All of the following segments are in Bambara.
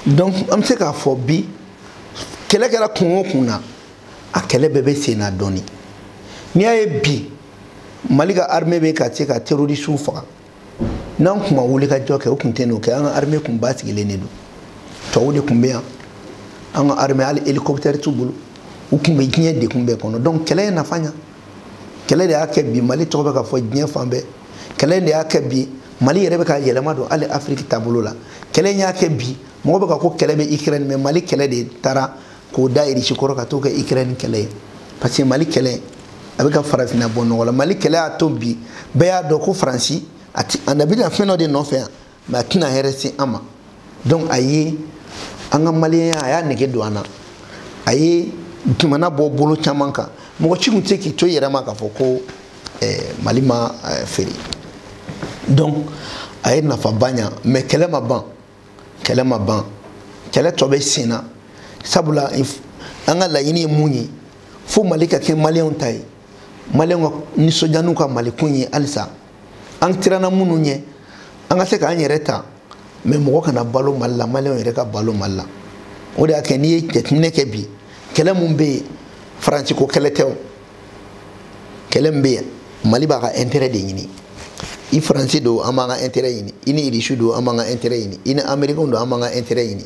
donc an bɛ se k'a fɔ bi kɛlɛ kɛra kun o kun na a kɛlɛ bɛɛ bɛ sen na dɔɔni n'i y'a ye bi mali ka armée bɛ ka se ka terrorisiw faga n'an tun ma wulikajɔ kɛ o tun tɛ n'o kɛ an ka armée tun basigilen de don tubabuw de tun bɛ yan an ka armée hali hélicoptère t'u bolo u tun bɛ diɲɛ degun bɛɛ kɔnɔ donc kɛlɛ ye nafa ɲa kɛlɛ de y'a kɛ bi mali tɔgɔ bɛ ka fɔ diɲɛ fan bɛɛ kɛlɛ de y'a kɛ bi mali yɛrɛ bɛ ka yɛlɛma don hali afiriki taabolo la kɛlɛ in y'a kɛ bi mɔgɔ bɛ ka ko kɛlɛ bɛ ikirɛni mɛ mali kɛlɛ de taara k'o da irisi kɔrɔ ka t'o kɛ ikirɛni kɛlɛ ye parce que mali kɛlɛ a bɛ ka farafinna bɔ nɔgɔ la mali kɛlɛ y'a to bi bɛɛ y'a dɔn ko faransi a ti a bɛna fɛn dɔ de nɔfɛ yan mɛ a tɛna hɛrɛ se an ma donc a ye an ka maliyɛnya a y'a nege don an na a ye jamana bɔ bolo caman kan mɔgɔ ci tun tɛ se k'i to i yɛrɛ ma k'a fɔ ko eh, mali ma eh, feere donc a ye nafaba ɲa mɛ kɛlɛ ma ban kɛlɛ ma ban kɛlɛ tɔ bɛ sen na sabula an ka laɲini ye mun ye fo mali ka kɛ maliyɛnw ta ye maliyɛnw ka nisɔndiya n'u ka mali ko ye halisa an siranna minnu ɲɛ an ka se k'an yɛrɛ ta mɛ mɔgɔ kana balo mali la maliyɛnw yɛrɛ ka balo mali la o de y'a kɛ n'i ye jateminɛ kɛ bi kɛlɛ min bɛ yen faransi ko kɛlɛ tɛ o kɛlɛ min bɛ yen mali b'a ka intérêt de ɲini ni faransi don an b'an ka intérêt ɲini i ni irisi don an b'an ka intérêt ɲini i ni amerikɛnw don an b'an ka intérêt ɲini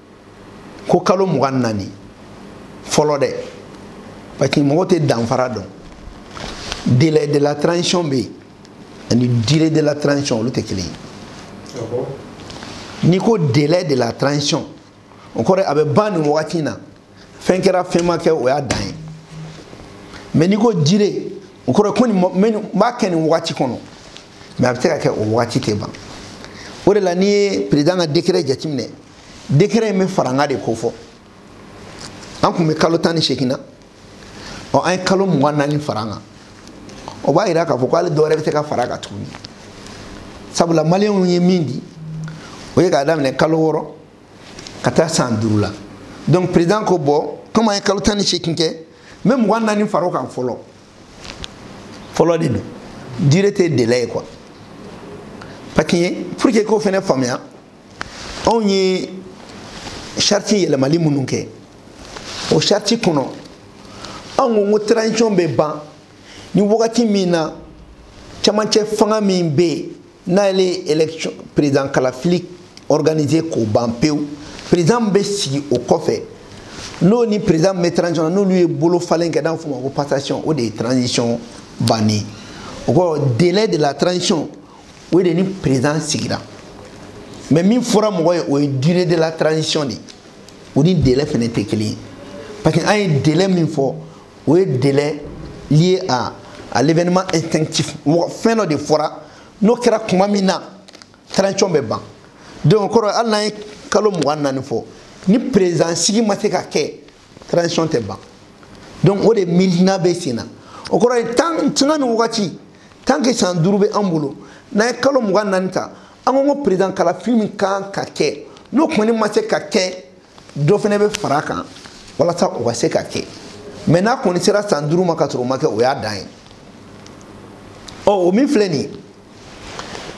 ko kalo mugan ni naani fɔlɔ dɛ parce que mɔgɔ tɛ danfara dɔn délai de la transition bɛ yen ani durée de la transition olu tɛ kelen ye n'i ko délai de la transition o kɔrɔ a bɛ ban nin wagati in na fɛn kɛra fɛn ma kɛ o y'a dan ye mɛ n'i ko durée o kɔrɔ ko nin n b'a kɛ nin wagati kɔnɔ mɛ a bɛ se ka kɛ o wagati tɛ ban o de la n'i ye perezidan ka dekɛrɛ jateminɛ dekɛrɛ in bɛ farankan de ko fɔ an tun bɛ kalo tan ni seegin na ɔ an ye kalo mugan naani fara an kan o b'a yira k'a fɔ ko hali dɔwɛrɛ bɛ se ka fara a kan tuguni sabula maliyɛnw ye min di o ye k'a daminɛ kalo wɔɔrɔ ka taa san duuru la donc président ko bon komi an ye kalo tan ni seegin kɛ n bɛ mugan naani fara o kan fɔlɔ fɔlɔ de don durée tɛ délai ye quoi parce que pour que k'o fana faamuya anw ye charte yɛlɛmali minnu kɛ o charte kɔnɔ anw ko ko transition bɛ ban ni wagati min na camancɛ fanga min bɛ yen n'ale ye election président kalafili organiser k'o ban pewu président min bɛ sigi o kɔfɛ n'o ni président min bɛ transition na n'olu ye bolo falen kɛ n'a bɛ f'o ma ko passation o de ye transition banni o kɔrɔ délai de la transition o ye de ni président sigira mais min fɔra mɔgɔ ye o ye durée de la transition de ye o ni délai fana tɛ kelen ye parce que an ye délai min fɔ o ye délai lié à à l'événement extinctif mɔgɔ fɛn dɔ de fɔra n'o kɛra tuma min na transition bɛ ban donc o kɔrɔ hali n'an ye kalo mugan naani fɔ ni président sigi ma se ka kɛ transition tɛ ban donc o de miirina bɛ sen na o kɔrɔ ye tan sanga ni wagati tant que san duuru bɛ an bolo n'an ye kalo mugan naani ta an ko ko président kalafili min kan ka kɛ n'o kɔni ma se ka kɛ dɔ fana bɛ fara a kan walasa o ka se ka kɛ mais n'a kɔni sera san duuru ma ka sɔrɔ o ma kɛ o y'a dan ye ɔ o min filɛ nin ye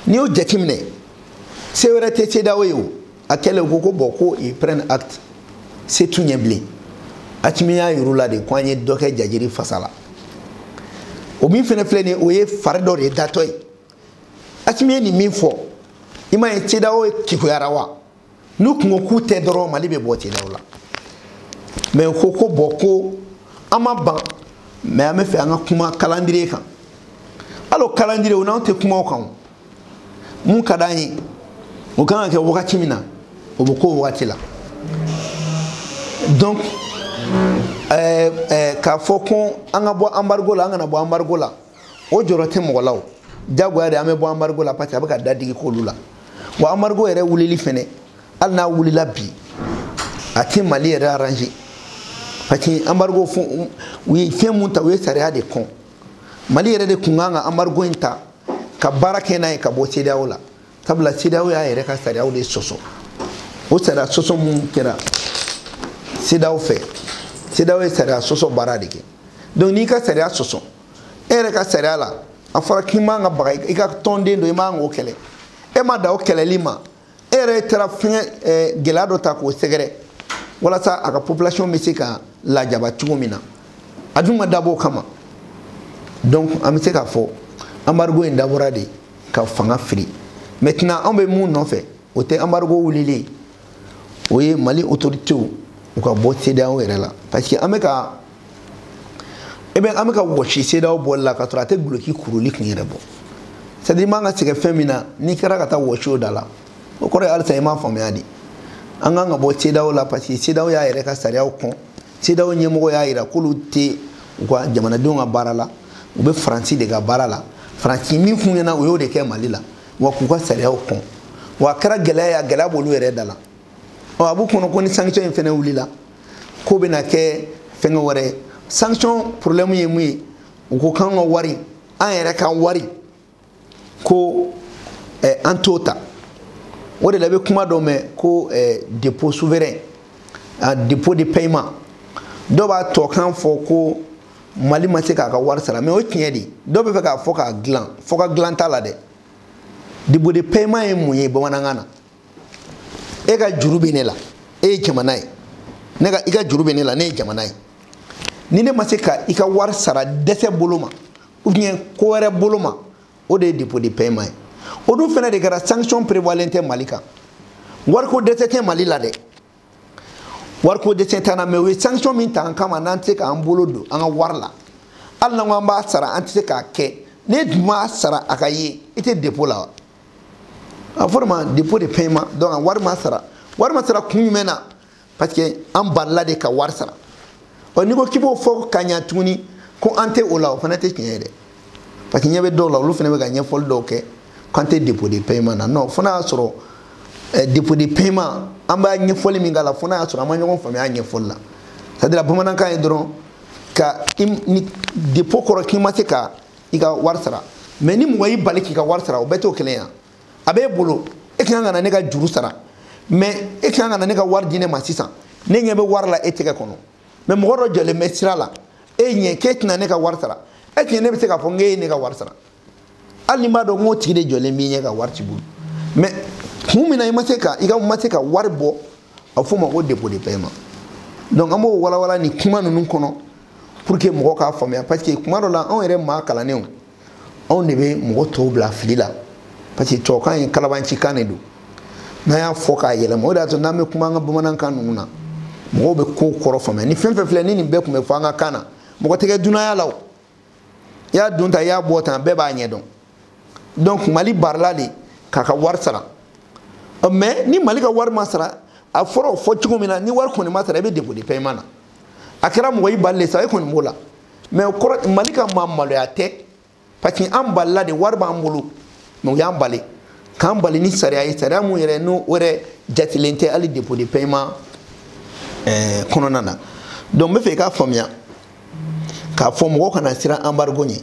n'i y'o jateminɛ se wɛrɛ tɛ CEDEAO ye o a kɛlen u ko ko bon ko ils prennent acte se t'u ye bilen Assimi y'a yir'u la de ko an ye dɔ kɛ jajiri fasa la o min fɛnɛ filɛ nin o ye fari dɔ de ye datɔ ye Assimi ye nin min fɔ i m'a ye CEDEAO kekuyara wa n'u kun ko k'u tɛ dɔrɔn mali bɛ bɔ CEDEAO la mais u ko ko bon ko an ma ban mais an b'a fɛ an ka kuma calendrier kan hali o calendrier o n'anw tɛ kuma o kan o min ka d'an ye o kan ka kɛ wagati min na o bɛ k'o wagati la donc ɛɛ ɛɛ k'a fɔ ko an ka bɔ embargo la an kana bɔ embargo la o jɔrɔ tɛ mɔgɔ la o jagoya de an bɛ bɔ embargo la parce que a bɛ ka dadigi k'olu la wa embargo yɛrɛ wulili fɛnɛ hali n'a wulila bi a tɛ mali yɛrɛ arranger parce que embargo fo u ye fɛn min ta u ye sariya de kɔn mali yɛrɛ de kun kan ka embargo in ta ka baara kɛ n'a ye ka bɔ CEDEAO la sabula CEDEAO y'a yɛrɛ ka sariyaw de sɔsɔ o sariya sɔsɔ minnu kɛra CEDEAO fɛ CEDEAO ye sariya sɔsɔ baara de kɛ donc n'i ka sariya sɔsɔ e yɛrɛ ka sariya la a fɔra k'i man ka baga i ka tɔnden don i man k'o kɛlɛ e ma dan o kɛlɛli ma e yɛrɛ taara fɛngɛ eh, gɛlɛya dɔ ta k'o sɛgɛrɛ walasa a ka population bɛ se ka lajaba cogo min na a dun ma dabɔ o kama donc an bɛ se k'a fɔ embargo in dabɔra de ka fanga firi maintenant anw bɛ min nɔfɛ o tɛ embargo wulili ye o ye mali autoritéw u ka bɔ CEDEAO yɛrɛ la parce que an bɛ ka e bɛ an bɛ ka wɔsi sedaw bɔli la ka sɔrɔ a tɛ duloki kuruli kun yɛrɛ bɔ c'est à dire i man ka sɛgɛn fɛn min na n'i kɛra ka taa wɔsi o da la o kɔrɔ ye halisa i m'a faamuya de an kan ka bɔ sedaw la parce que sedaw y'a yɛrɛ ka sariyaw kɔn sedaw ɲɛmɔgɔ y'a jira k'olu tɛ u ka jamanadenw ka baara la u bɛ faransi de ka baara la faransi min f'u ɲɛna u y'o de kɛ mali la wa k'u ka sariyaw kɔn wa a kɛra gɛlɛya ye a gɛlɛya b'olu yɛrɛ da la ɔ a b'u kɔnɔ ko ni sanction in fɛnɛ wulila k'o bɛna kɛ fɛn wɛrɛ ye sanction problème ye mun ye u ko k'an ka wari an yɛrɛ ka wari ko eh, an t'o ta o de la i bɛ kuma dɔ mɛn ko eh, défaut souverain ah, défaut de paiement dɔw bɛ to k'a fɔ ko mali ma se k'a ka wari sara mais o tiɲɛ de dɔw b'a fɛ k'a fɔ k'a dilan fɔ k'a dilan t'a la dɛ défaut de paiement ye mun ye bamanankan na e ka juru bɛ ne la e ye jamana ye ne ka i ka juru bɛ ne la ne ye jamana ye ni ne ma se ka i ka wari sara dɛsɛ bolo ma ou bien ko wɛrɛ bolo ma o de ye défaut de paiement ye o dun fana de kɛra sanction prévoilen tɛ mali kan wariko dɛsɛ tɛ mali la dɛ wariko dɛsɛ t'an na mais u ye sanction min ta an kama n'an tɛ se k'an bolo don an ka wari la hali n'an ko an b'a sara an tɛ se k'a kɛ n'e dun m'a sara a ka ye i tɛ défaut la wa a fɔr'o ma défaut de paiement donc a wari ma sara wari ma sara kun jumɛn na parce que an balila de ka wari sara ɔ n'i ko k'i b'o fɔ ka ɲa tuguni ko an tɛ o la o fana tɛ tiɲɛ ye dɛ parce que ɲɛ bɛ dɔw la olu fana bɛ ka ɲɛfɔli dɔw kɛ k'an tɛ défaut de paiement na non fo n'a y'a sɔrɔ eh, défaut de paiement an b'a ɲɛfɔli min k'a la fo n'a y'a sɔrɔ an ma ɲɔgɔn faamuya a ɲɛfɔli la c'est à dire bamanankan ye dɔrɔn ko ni défaut kɔrɔ k'i ma se ka i ka wari sara mais ni mɔgɔ y'i bali k'i ka wari sara o bɛɛ t'o kelen ye a b'e bolo e kan ka na ne ka juru sara mais e kan ka na ne ka wari di ne ma sisan ne ɲɛ bɛ wari la e tɛgɛ kɔnɔ mais mɔgɔ dɔ jɔlen bɛ sira la e ɲɛ k'e tɛna ne ka wari sara e tiɲɛ ne bɛ se k'a fɔ n k'e ye ne ka wari sara hali ni n b'a dɔn n k'o tigi de jɔlen b'i ɲɛ ka wari t'i bolo mais kun min na i ma se ka i ka ma se ka wari bɔ a f'o ma ko défaut de paiement donc an b'o walawala nin kuma ninnu kɔnɔ pour que mɔgɔ k'a faamuya parce que kuma dɔ la anw yɛrɛ maa kalannenw anw de bɛ mɔgɔ tɔw bila fili la parce que tubabukan ye kalabaancikan de don n'an y'a fɔ k'a yɛlɛma o de y'a to n'an bɛ kuma an ka bamanankan ninnu na mɔgɔw bɛ kow kɔrɔ faamuya ni fɛn fɛn filɛ ni nin bɛɛ tun bɛ fɔ an ka kan na mɔgɔ tɛ kɛ dunanya la o i y'a don tan i y'a bɔ tan bɛɛ b'a ɲɛ dɔn donc mali balila de k'a ka wari sara mais ni mali ka wari ma sara a fɔra o fɔ cogo min na ni wari kɔni ma sara i bɛ défaut de paiement na a kɛra mɔgɔ i balile sa e kɔni b'o la mais o kɔrɔ mali ka maa maloya tɛ parce que an balila de wari b'an bolo mais u y'an bali k'an bali ni sariya ye sariya min yɛrɛ n'o o yɛrɛ jatilen tɛ hali défaut de paiement kɔnɔna na donc n bɛ fɛ i k'a faamuya k'a fɔ mɔgɔ kana siran anbarigo ɲɛ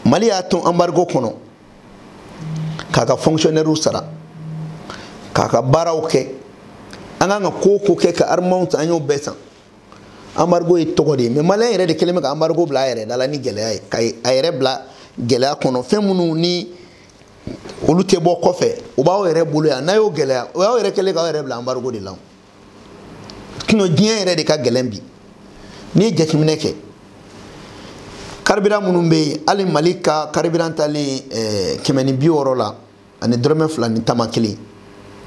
mali y'a to anbarigo kɔnɔ k'a ka fonctionnairew sara k'a ka baaraw kɛ an k'a ka ko o ko kɛ ka armɛw ta an y'o bɛɛ san anbarigo ye tɔgɔ de ye mɛ maliyɛn yɛrɛ de kɛlen bɛ ka anbarigo bila a yɛrɛ da la ni gɛlɛya ye ka a yɛrɛ bila gɛlɛya kɔnɔ fɛn minnu ni olu tɛ bɔ kɔfɛ u b'aw yɛrɛ bolo yan n'a y'o gɛlɛya o y'aw yɛrɛ kɛlen k'aw yɛrɛ bila anbarigo de la sinon diɲɛ yɛrɛ de ka gɛlɛn bi n'i ye jateminɛ kɛ karibiran minnu bɛ yen hali mali ka karibiran talen eh, kɛmɛ ni bi wɔɔrɔ la ani dɔrɔmɛ fila ni tama kelen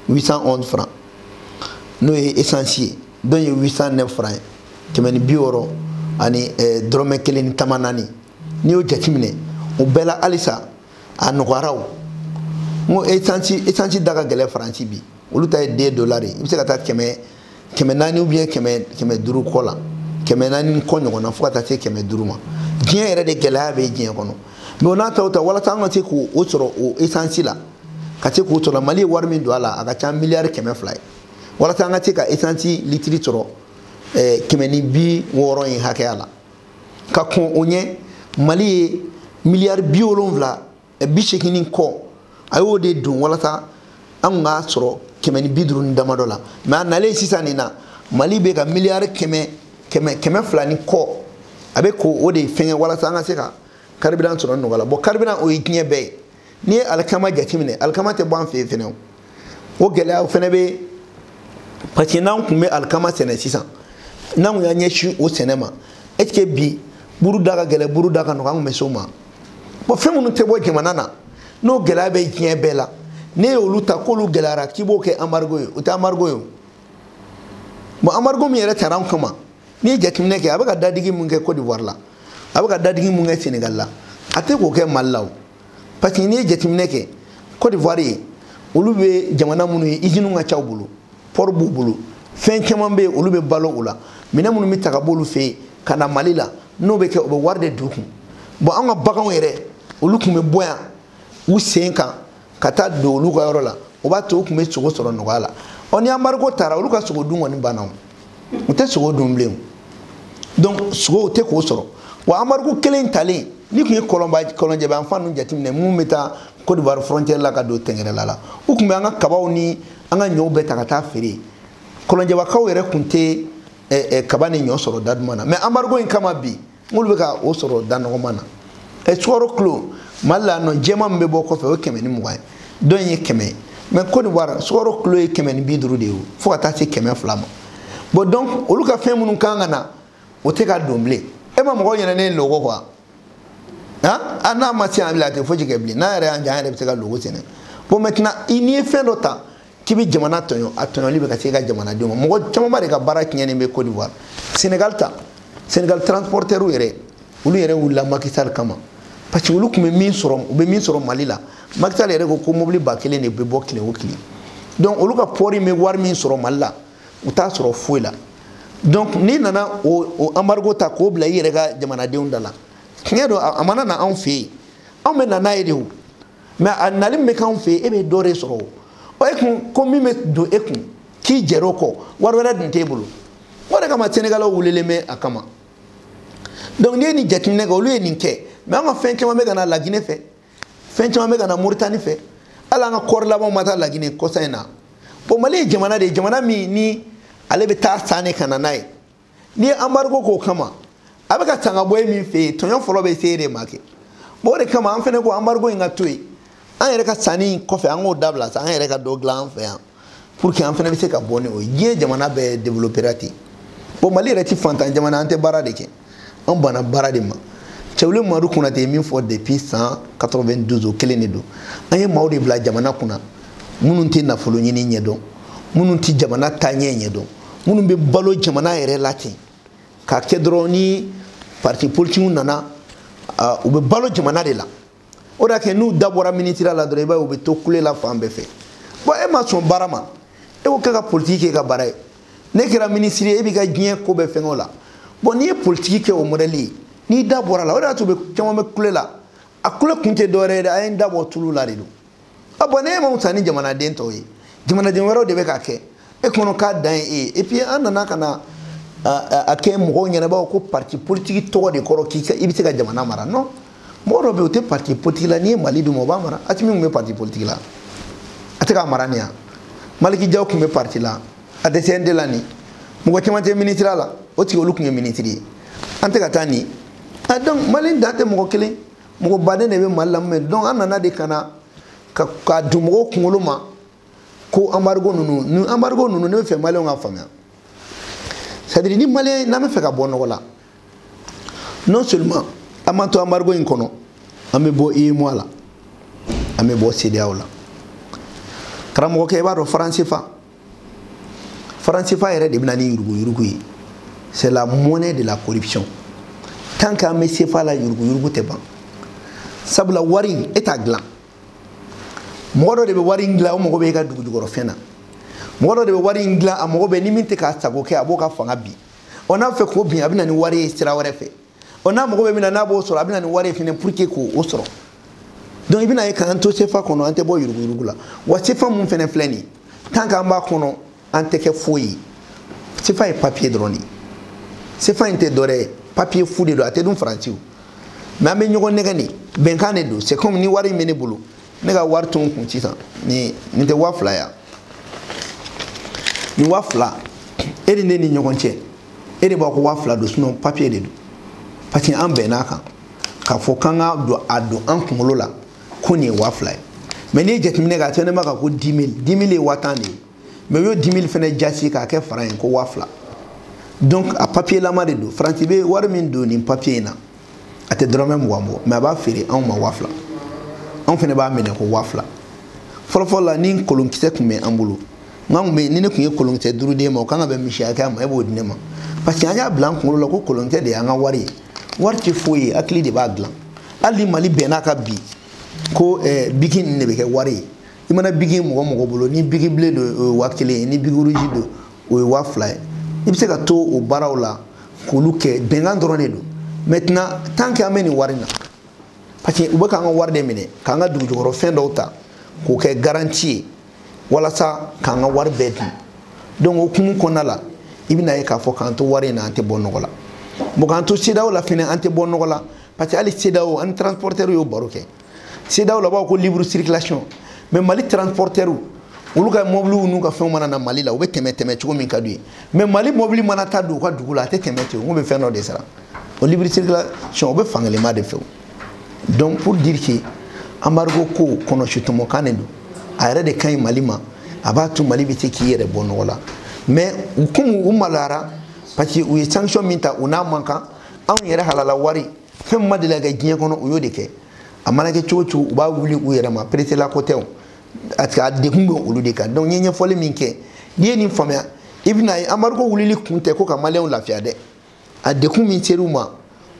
811 francs n'o ye essence ye dɔ ye 809 francs ye kɛmɛ ni bi wɔɔrɔ ani eh, dɔrɔmɛ kelen ni tama naani n'i y'o jateminɛ o bɛɛ la halisa a nɔgɔyara o n ko esansi esansi da ka gɛlɛ faransi bi olu ta ye deux dola de i bɛ se ka taa kɛmɛ kɛmɛ naani ubiyɛn kɛmɛ kɛmɛ duuru kɔ la kɛmɛ naani kɔ ɲɔgɔn na fo ka taa se kɛmɛ duuru ma diɲɛ yɛrɛ de gɛlɛya bɛ diɲɛ kɔnɔ mɛ o n'a ta o ta walasa an ka se k'o o sɔrɔ o esansi la ka se k'o sɔrɔ mali ye wari min don a la a ka ca miliyari kɛmɛ fila ye walasa an ka se ka esansi litiri sɔrɔ kɛmɛ ni bi wɔɔrɔ in hakɛya la ka kɔn o ɲɛ mali ye miliyari bi wolonwula eh, bi seegin ni kɔ a y'o de don walasa an kun k'a sɔrɔ kɛmɛ ni bi duuru ni damadɔ la mɛ a nalen sisan nin na mali bɛ ka miliyari kɛmɛ kɛmɛ kɛmɛ fila ni kɔ a bɛ k'o de fɛngɛ walasa an ka se ka karibiran sɔrɔ nɔgɔya la bɔn karibiran o ye diɲɛ bɛɛ ye n'i ye alikama jateminɛ alikama tɛ bɔ an fɛ yan fɛnɛ o gɛlɛyaw fɛnɛ bɛ parce que n'an tun bɛ alikama sɛnɛ sisan n'an tun y'an ɲɛsin o sɛnɛ ma est ce que bi buru da ka gɛlɛ buru da ka nɔgɔ an tun bɛ s'o ma bɔn fɛn minnu tɛ bɔ jamana na n'o gɛlɛya bɛ diɲɛ bɛɛ la n'e y'olu ta k'olu gɛlɛyara k'i b'o kɛ anbarigo ye o tɛ anbarigo ye o bon anbarigo min yɛrɛ tara an kama n'i ye jateminɛ kɛ a bɛ ka dadigi min kɛ cote d'ivoire la a bɛ ka dadigi min kɛ senegal la a tɛ k'o kɛ mali la o parce que n'i ye jateminɛ kɛ cote d'ivoire ye olu bɛ jamana minnu ye iziniw ka ca u bolo pɔri b'u bolo fɛn caman bɛ yen olu bɛ balo o la minɛn minnu bɛ ta ka b'olu fɛ yen ka na mali la n'o bɛ kɛ o bɛ wari de don u kun bɔn an ka baganw yɛrɛ olu tun bɛ bɔ yan u sen kan ka taa don olu ka yɔrɔ la o b'a to u tun bɛ sogo sɔrɔ nɔgɔya la ɔ ni embargo taara olu ka sogo dun kɔni banna o u tɛ sogo dun bilen o donc sogow tɛ k'o sɔrɔ wa embargo kelen talen ne tun ye kɔlɔnba kɔlɔnjɛba yan fan ninnu jateminɛ minnu bɛ taa Côte d'Ivoire frontière la ka don tɛngɛrɛla la u tun bɛ an ka kabaw ni an ka ɲɔw bɛɛ ta ka taa feere kɔlɔnjɛbakaw yɛrɛ tun tɛ kaba ni ɲɔ sɔrɔ da duman na mais embargo in kama bi n'olu bɛ ka o sɔrɔ da nɔgɔman na ɛ sukaro kilo mali la nɔ jɛman min bɛ bɔ kɔfɛ o ye kɛmɛ ni mugan ye dɔ in ye kɛmɛ ye mais cote d'ivoire sukaro kilo ye kɛmɛ ni bi duuru de ye fo ka taa se kɛmɛ fila ma bon donc olu ka fɛn minnu kan ka na o tɛ ka don bilen e ma mɔgɔ ɲɛna ne ye logo quoi han a n'a ma se an bila a tɛ foyi kɛ bilen n'an yɛrɛ y'an jɛ an yɛrɛ bɛ se ka logo sɛnɛ bon maintenant i n'i ye fɛn dɔ ta k'i bɛ jamana tɔɲɔ a tɔɲɔli bɛ ka se i ka jamanadenw ma mɔgɔ camanba de ka baara tiɲɛnen bɛ cote d'ivoire senegal ta senegal transportɛriw yɛrɛ olu yɛrɛ wulila macky sall kama parce que olu tun bɛ min sɔrɔ u bɛ min sɔrɔ mali la macky sall yɛrɛ ko ko mobiliba kelen de bɛ bɔ tile o tile donc olu ka pɔri bɛ wari min sɔrɔ mali la u t'a sɔrɔ foyi la donc n'i nana o embargo ta k'o bila i yɛrɛ ka jamanadenw da la tiɲɛ don a mana na anw fɛ yen anw bɛ na n'a ye de o mais a nali min bɛ k'anw fɛ yen e bɛ dɔ de sɔrɔ o e kun ko min bɛ don e kun k'i jɛr'o kɔ wari wɛrɛ dun t'e bolo o de kama sɛnɛgalɛw wulilen bɛ a kama donc n'i ye nin jateminɛ kɛ olu ye nin kɛ mais an ka fɛn caman bɛ ka na lagine fɛ fɛn caman bɛ ka na moritani fɛ hali an ka kɔɔri labanw ma taa lagine kɔsa in na bon mali ye jamana de ye jamana min ni ale bɛ taa san de ka na n'a ye n'i ye embargo k'o kama a bɛ ka san ka bɔ e min fɛ yen tɔɲɔ fɔlɔ bɛ se e de ma kɛ o de kama an fɛnɛ ko embargo in ka to yen an yɛrɛ ka sanni in kɔfɛ an k'o dabila sa an yɛrɛ ka dɔ dilan an fɛ yan pour que an fɛnɛ bɛ se ka bɔ ni o ye diɲɛ jamana bɛɛ développera ten bon mali yɛrɛ ti faantan jamana an tɛ baara de kɛ an banna baara de ma cɛwule madu konate ye min fɔ depuis san 92 o kelen de don an ye maaw de bila jamana kunna minnu tɛ nafolo ɲini ɲɛdɔn minnu tɛ jamana taaɲɛ ɲɛdɔn minnu bɛ balo jamana yɛrɛ la ten k'a kɛ dɔrɔn ni parti politikiw nana u bɛ balo jamana de la o de y'a kɛ n'u da bɔra ministère la dɔrɔn i b'a ye u bɛ to kule la fan bɛɛ fɛ bon e ma sɔn baara ma e ko k'e ka politiki k'e ka baara ye ne kɛra minisiri ye e b'i ka diɲɛ ko bɛɛ fɛngɛ o la bon n'i ye politiki kɛ o mɔdɛli ye n'i da bɔra a la o de y'a to caman bɛ kule la a kule kun tɛ dɔwɛrɛ ye dɛ a ye n da bɔ tulu la de don a bon e ma wusa ni jamanaden tɔw ye jamanaden wɛrɛw de bɛ k'a kɛ e kɔnɔ k'a dan ye e ye et puis an nana ka na a kɛ mɔgɔw ɲɛ na ko parti politique tɔgɔ de kɔrɔ k'i ka i bɛ se ka jamana mara non mɔgɔ dɔ bɛ yen o tɛ parti politique la n'i ye mali d'o ma o b'a mara asimi tun bɛ parti politique la a tɛ k'a mara nin yan maliki jaw tun bɛ parti la a tɛ cnt la nin mɔgɔ caman tɛ minisiriya la o tigi olu tun ye minisiri ye an tɛ ka taa nin donc mali dan tɛ mɔgɔ kelen mɔgɔ baden de bɛ mali la mɛ donc an nana de ka na k'a don mɔgɔw kunkolo ma ko embargo ninnu ni embargo ninnu ne b'a fɛ maliyɛnw k'a faamuya c'est à dire ni maliyɛn n'an b'a fɛ ka bɔ nɔgɔ la non seulement an m'an to embargo in kɔnɔ an bɛ bɔ UEMOA la an bɛ bɔ CEDEAO la karamɔgɔkɛ i b'a dɔn franc sefa franc sefa yɛrɛ de bɛ na ni yuruguyurugu ye c'est la monnaie de la corruption tant qu'an bɛ sefa la yuruguyurugu tɛ ban sabula wari e t'a dilan mɔgɔ dɔ de bɛ wari in dilan o mago bɛ e ka dugujukɔrɔfɛn na mɔgɔ dɔ de bɛ wari in dilan a mago bɛ ni min tɛ k'a sago kɛ a b'o ka fanga bin ɔ n'a fɛ k'o bin a bɛ na ni wari ye sira wɛrɛ fɛ ɔ n'a mago bɛ min na n'a b'o sɔrɔ a bɛ na ni wari ye fana pour que k'o o sɔrɔ donc i bɛna ye k'an to sefa kɔnɔ an tɛ bɔ yuruguyurugu la wa sefa min fana filɛ nin ye tant qu'an b'a kɔnɔ an tɛ kɛ foyi ye sefa ye papiye dɔrɔn de ye sefa in tɛ dɔwɛrɛ ye papiye fu de don a tɛ dun faransi o mɛ an bɛ ɲɔgɔn nɛgɛn de bɛnkan de don c'est comme ni wari in bɛ ne bolo ne ka wari to n kun sisan nin nin tɛ waa fila ye nin waa fila e ni ne ni ɲɔgɔn cɛ e de b'a ko waa fila don sinɔn papiye de don parce que an bɛnna a kan k'a fɔ k'an k'a don a don an kunkolo la ko nin ye waa fila ye mɛ n'i ye jateminɛ kɛ a sɛbɛnnen b'a kan ko dix mille dix mille ye waa tan de ye mɛ u y'o dix mille fɛnɛ jaasi k'a kɛ fara ye ko waa fila donc a papiye lama de don faransi bɛ wari min don nin papiye in na a tɛ dɔrɔmɛ mugan bɔ mɛ a b'a feere anw ma waa fila anw fana b'a minɛ ko waa fila fɔlɔfɔlɔ la ni kolonkisɛ tun bɛ an bolo bɛnkan tun bɛ ni ne tun ye kolonkisɛ duuru d'e ma o kan ka bɛn misi hakɛya ma e b'o di ne ma parce que an y'a bila an kunkolo la ko kolonkisɛ de y'an ka wari ye wari tɛ foyi ye hakili de b'a dilan hali ni mali bɛnna a kan bi ko eh, biki nin de bɛ kɛ wari ye i mana biki mɔgɔ mɔgɔ bolo ni biki bleu don o ye waa kelen ye ni biki rouge don o ye waa fila ye i bɛ se ka to o baaraw la k'olu kɛ bɛnkan dɔrɔn de don maintenant tant que an bɛ nin wari na parce que u bɛ k'an ka wari de minɛ k'an ka dugujukɔrɔfɛn dɔw ta k'o kɛ garanti ye walasa k'an ka wari bɛɛ dun donc o hukumu kɔnɔna la i bɛna ye k'a fɔ k'an to wari in na an tɛ bɔ nɔgɔ la bon k'an to CEDEAO la fɛnɛ an tɛ bɔ nɔgɔ la parce que hali CEDEAO an ni transporteurs y'o baro kɛ CEDEAO la b'a ko libre circulation mais mali transportɛriw olu ka mɔbiliw n'u ka fɛnw mana na mali la u bɛ tɛmɛ tɛmɛ cogo min ka d'u ye mais mali mɔbili mana taa don u ka dugu la a tɛ tɛmɛ ten u bɛ fɛn dɔ de sara o libre circulation o bɛ fankelenma de fɛ donc pour dire que embargo ko kɔnɔsutɔmɔkan de don a yɛrɛ de ka ɲi mali ma a b'a to mali bɛ se k'i yɛrɛ bɔ nɔgɔ la mais komi u maloyara parce que u ye sanction min ta u n'a man kan anw yɛrɛ halala wari fɛn min ma deli ka kɛ diɲɛ kɔnɔ u y'o de kɛ a mana kɛ cogo cogo u b'a wuli u yɛrɛ ma peresela ko tɛ o parce que a degun bɛ olu de kan donc n ye ɲɛfɔli min kɛ n'i ye nin faamuya i bɛn'a ye embargo wulili kun tɛ ko ka maliyɛnw lafiya dɛ a degun min ser'u ma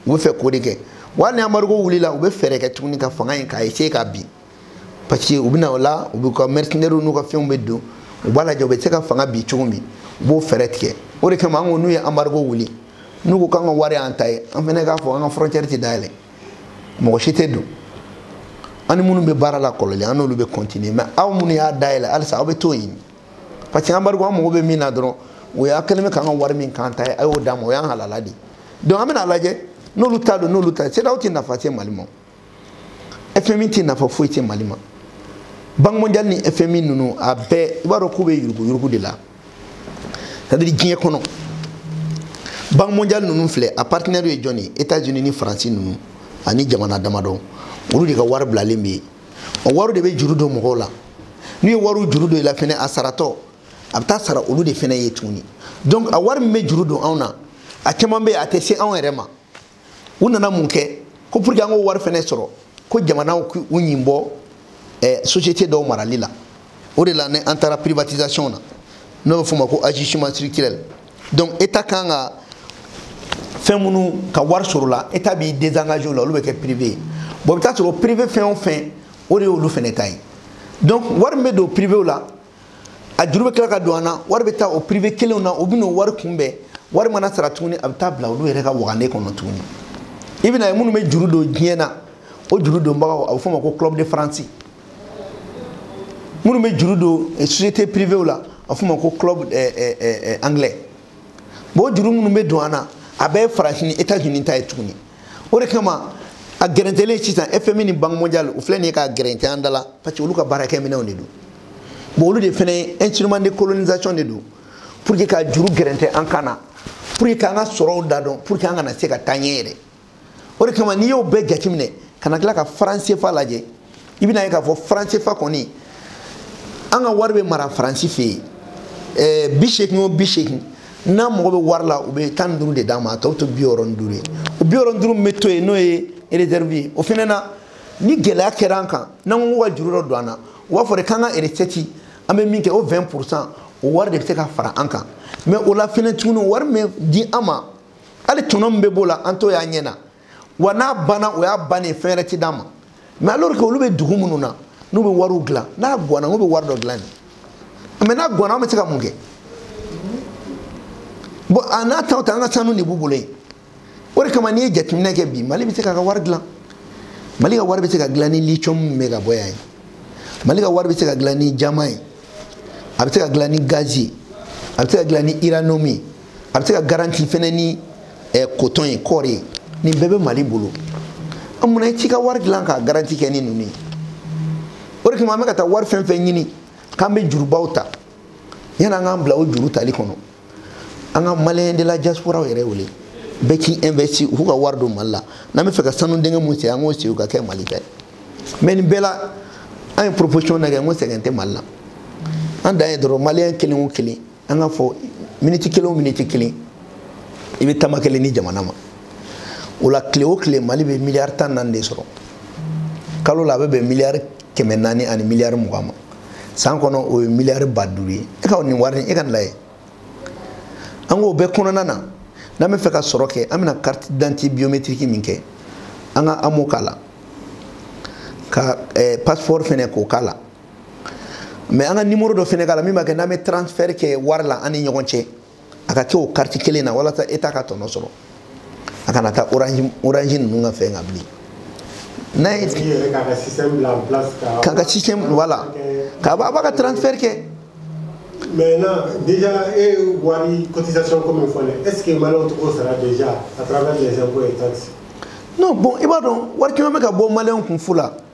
u b'a fɛ k'o de kɛ wa hali ni embargo wulila u bɛ fɛɛrɛ kɛ tuguni ka fanga in k'a essayer k'a bin parce que u bɛ na o la u b'u ka mercenaires n'u ka fɛnw bɛɛ don u b'a lajɛ u bɛ se ka fanga bin cogo min u b'o fɛɛrɛ tigɛ o de kama an ko n'u ye embargo wuli n'u ko k'an ka wari y'an ta ye an fana k'a fɔ an ka frontière tɛ dayɛlɛ mɔgɔ si tɛ don an ni minnu bɛ baara la kɔrɔlen an n'olu bɛ continuer mais aw minnu y'a dayɛlɛ halisa aw bɛ t'o ɲini parce que embargo an mago bɛ min na dɔrɔn o y'a kɛlen bɛ k'an ka wari min k'an ta ye a y'o d'an ma o y'an halala de ye donc an bɛna a lajɛ n'olu ta don n'olu ta ye CEDEAO tɛ nafa se Mali ma fmi tɛ nafa foyi tɛ mali ma banque mondial ni fmi ninnu a bɛɛ i b'a dɔn k'u bɛ yuruguyurugu de la c'est-à-dire diɲɛ kɔnɔ banque mondial ninnu filɛ a partenaire ye jɔn ye états unis ni faransi ninnu ani jamana damadɔ olu de ka wari bilalen bɛ yen o wari de bɛ juru don mɔgɔw la n'u ye wariw juru don i la fɛnɛ a saratɔ a bɛ taa sara olu de fɛnɛ ye tuguni donc a wari min bɛ juru don anw na a caman bɛ yen a tɛ se anw yɛrɛ ma u nana mun kɛ ko pour que an k'o wari fɛnɛ sɔrɔ ko jamanaw k'u ɲin bɔ eh, société dɔw marali la o de la ni an taara privatisation na n'o bɛ f'o ma ko ajustement structurel donc état ka kan ka fɛn minnu ka wari sɔrɔ la état b'i désengager o la olu bɛ kɛ privé ye bon i bɛ taa sɔrɔ privé fɛn o fɛn o de y'olu fɛnɛ ta ye donc wari min bɛ don privéw la a juru bɛ tila ka don an na wari bɛ taa o privé kelenw na o bɛna o wari kunbɛn wari mana sara tuguni a bɛ taa bila olu yɛrɛ ka wagande kɔnɔ tuguni i bɛn'a ye minnu bɛ juru don diɲɛ na o juru donbagaw a bɛ f'o ma ko club de france minnu bɛ juru don eh, société privéw la a bɛ f'o ma ko club eh, eh, eh, eh, anglais bon o juru minnu bɛ don an na a bɛɛ ye faransi ni états unis ta ye tuguni o de kama a gɛrɛntɛlen sisan fmi ni banque mondial u filɛ nin ye k'a gɛrɛntɛ an da la parce que olu ka baarakɛ minɛnw de don bon olu de fɛnɛ instrument de colonisation de don pour que ka juru gɛrɛntɛ an kan na pour que k'an ka sɔrɔw da dɔn pour que an kana se ka taa ɲɛ yɛrɛ o de kama n'i y'o bɛɛ jateminɛ ka na tila ka franc CFA lajɛ i bɛn'a ye k'a fɔ franc CFA kɔni an ka wari bɛ mara faransi fɛ yen ɛɛ eh, bi seegin o bi seegin n'an mago bɛ wari la u bɛ tan ni duuru de d'an ma a tɔ to bi wɔɔrɔ ni duuru ye o bi wɔɔrɔ ni duuru min bɛ to yen n'o ye réserve ye o fana na ni gɛlɛya kɛra an kan n'an ko k'u ka juru dɔ don an na u b'a fɔ de k'an ka recette an bɛ min kɛ o 20 pourcent o wari de bɛ se ka fara an kan mais o la fana tuguni wari mana di an ma hali tɔnɔ min bɛ b'o la an t'o y'an ɲɛ na wa n'a banna o y'a bannen ye fɛn wɛrɛ ti d'a ma mais alors que olu bɛ dugu minnu na n'u bɛ wariw dilan n'a guwanna n'u bɛ wari dɔ dilan de mais n'a guwanna an bɛ se ka mun kɛ bon a n'a taw ta an ka sanu de b'u bolo yen o de kama n'i ye jateminɛ kɛ bi mali bɛ se k'a ka wari dilan mali ka wari bɛ se ka dilan ni lithium min bɛ ka bɔ yan ye mali ka wari bɛ se ka dilan ni jaman ye a bɛ se ka dilan ni gazi ye a bɛ se ka dilan ni uranium ye a bɛ se ka garanti fɛnɛ ni eh, coton ye kɔɔri ye nin bɛɛ bɛ mali bolo an munna i t'i ka wari dilan k'a garanti kɛ ni ninnu ye o de kama an bɛ ka taa wari fɛn fɛn ɲini k'an bɛ jurubaw ta yanni an k'an bila o juru tali kɔnɔ an ka maliyɛn de la diasporaw yɛrɛ wele bɛɛ k'i investi u k'u ka wari don mali la n'an bɛ fɛ ka sanu dingɛ min sen an k'o sen u ka kɛ mali ta ye mais nin bɛɛ la an ye proposition na kɛ n ko sɛgɛn tɛ mali la an dan ye dɔrɔn maliyɛn kelen o kelen an k'a fɔ miniti kelen o miniti kelen i bɛ tama kelen di jamana ma o la tile o tile mali bɛ miliyari tan naani de sɔrɔ kalo la a bɛ bɛn miliyari kɛmɛ naani ani miliyari mugan ma san kɔnɔ o ye miliyari ba duuru ye e ka nin wari e ka nin lajɛ an k'o bɛɛ kɔnɔna na n'an bɛ fɛ ka sɔrɔ kɛ an bɛna carte d'identité biométrique min kɛ an ka amo k'a la ka passeport fɛnɛ k'o k'a la mais an ka numéro dɔ fɛnɛ k'a la min b'a kɛ n'an bɛ transfert kɛ wari la an ni ɲɔgɔn cɛ a ka kɛ o kariti kelen na walasa état ka tɔnɔ sɔrɔ a kana taa orange orange ninnu ka fɛn kan bilen n'a ye k'a ka système bila en place k'a ka système voilà k'a b'a ka transfert kɛ maintenant déjà e wari cotisation ko min fɔ dɛ est ce que maliyɛnw tɛ k'o sara déjà à travers les impôts et taxes non bon i b'a dɔn wari caman bɛ ka bɔ maliyɛnw kun fu la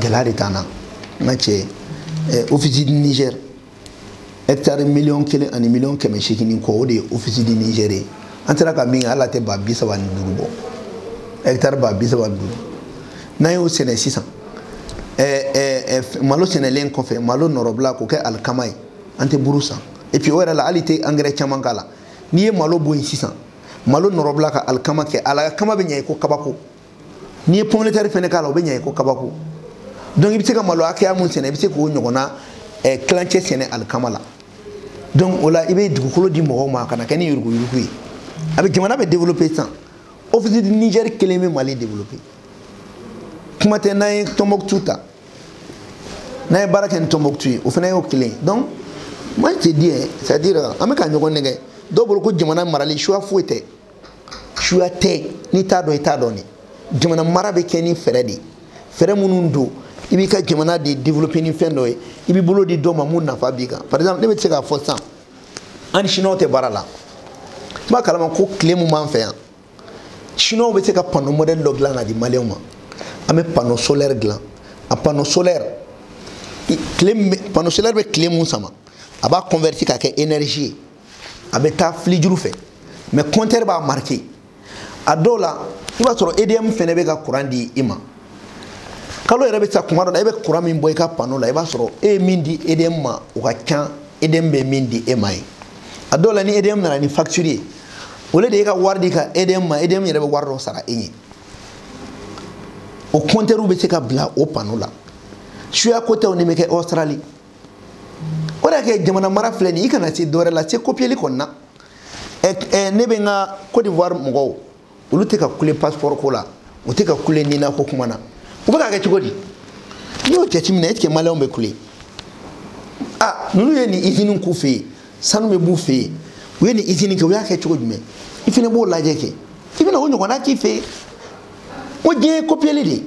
gɛlɛya de t'an na n ka cɛ eh, office du niger hɛkitari miliyɔn kelen ani miliyɔn kɛmɛ seegin ni kɔ o de ye office du niger ye an sera ka min kɛ a la tɛ ba bi saba ni duuru bɔ hɛkitari ba bi saba ni duuru n'an y'o sɛnɛ sisan eh, eh, malo sɛnɛlen kɔfɛ malo nɔrɔbila k'o kɛ alikama ye an tɛ buru san et puis o yɛrɛ la hali i tɛ angɛrɛ caman k'a la n'i ye malo bɔ yen sisan malo nɔrɔbila ka alikama kɛ alikama bɛ ɲɛ i ko kabako n'i ye pomme de terre fɛnɛ k'a la o bɛ ɲɛ i ko kabako donc i bɛ se ka malo hakɛya min sɛnɛ i bɛ se k'o ɲɔgɔnna eh, tilancɛ sɛnɛ alikama la donc o la i bɛ dugukolo di mɔgɔw ma a kana kɛ ni yuruguyurugu ye a bɛ jamana bɛɛ développer sisan office du niger kelen bɛ mali développer kuma tɛ n'an ye tombouctou ta n'an ye baara kɛ ni tombouctou ye o fana y'o kelen ye donc moi je te dis c'est à dire an bɛ ka ɲɔgɔn nɛgɛn dɔw bolo ko jamana marali choix foyi tɛ suya tɛ n'i t'a dɔn i t'a dɔn de jamana mara bɛ kɛ ni fɛɛrɛ de ye fɛɛrɛ minnu don i b'i ka jamana de développer ni fɛn dɔ ye i b'i bolo di dɔ ma mun nafa b'i kan par exemple ne bɛ se k'a fɔ sisan an ni siniwaw tɛ baara la n b'a kalama ko tile mun b'an fɛ yan siniwaw bɛ se ka panneau modèle dɔ dilan ka di maliyɛnw ma an bɛ panneau solaire dilan a panneau solaire tile panneau solaire bɛ tile mun sama a b'a converti ka kɛ énergie ye a bɛ taa filijuru fɛ mais kɔntɛri b'a marike a dɔw la i b'a sɔrɔ edm fɛnɛ bɛ ka kuran di i ma kalo yɛrɛ bɛ sa kuma dɔ la e bɛ kuran min bɔ i ka pano la i b'a sɔrɔ e ye min di edm ma o ka ca edm bɛ min di e ma ye a dɔw la ni edm nana ni facture ye o le de ye ka wari di ka edm ma edm yɛrɛ bɛ wari dɔ sara e ye o kɔntɛriw bɛ se ka bila o pano la suya ko tɛ nin bɛ kɛ australie o de y'a kɛ jamana mara filɛ nin i kana se dɔwɛrɛ la se kopiyeli kɔni na ne bɛ n ka cote d'ivoire mɔgɔw olu tɛ ka kule passeport ko la u tɛ ka kule nina ko kuma na u bɛ ka kɛ cogo di n'i y'o jateminɛ est ce que maliyɛnw bɛ kule a ninnu ye nin izini k'u fɛ yen sanu bɛ b'u fɛ yen u ye nin izini kɛ u y'a kɛ cogo jumɛn i fana b'o lajɛ kɛ i bɛna o ɲɔgɔnna k'i fɛ yen o diɲɛ ye kopiyeli de ye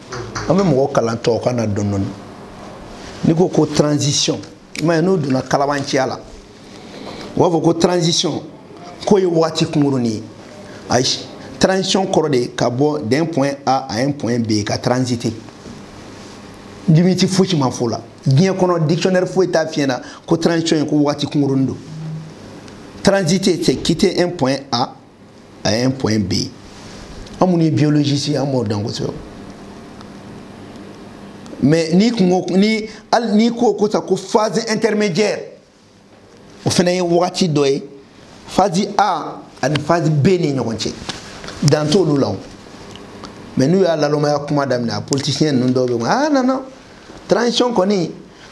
an bɛ mɔgɔ kalan tubabukan na dɔɔni dɔɔni n'i ko ko transition i m'a ye n'o donna kalabanciya la u b'a fɔ ko transition k'o ye waati kunkurunin ye ayi transition kɔrɔ de ka bɔ d'un point A à un point B ka transiter limite fosi ma f'o la diɲɛ kɔnɔ dictionnaire foyi t'a f'i ɲɛ na ko transition ye ko waati kunkurunin don transiter c'est quitter un point A à un point B an minnu ye biologiste ye an b'o dɔn kosɛbɛ mais n'i ko ko ni hali n'i ko ko sa ko phase intermédiaire o fana ye wagati dɔ ye phase A ani phase B ni ɲɔgɔn cɛ dan t'olu la o mais n'u ye nalomaya kuma daminɛ a politicien ninnu dɔw bɛ yen ah non non transition kɔni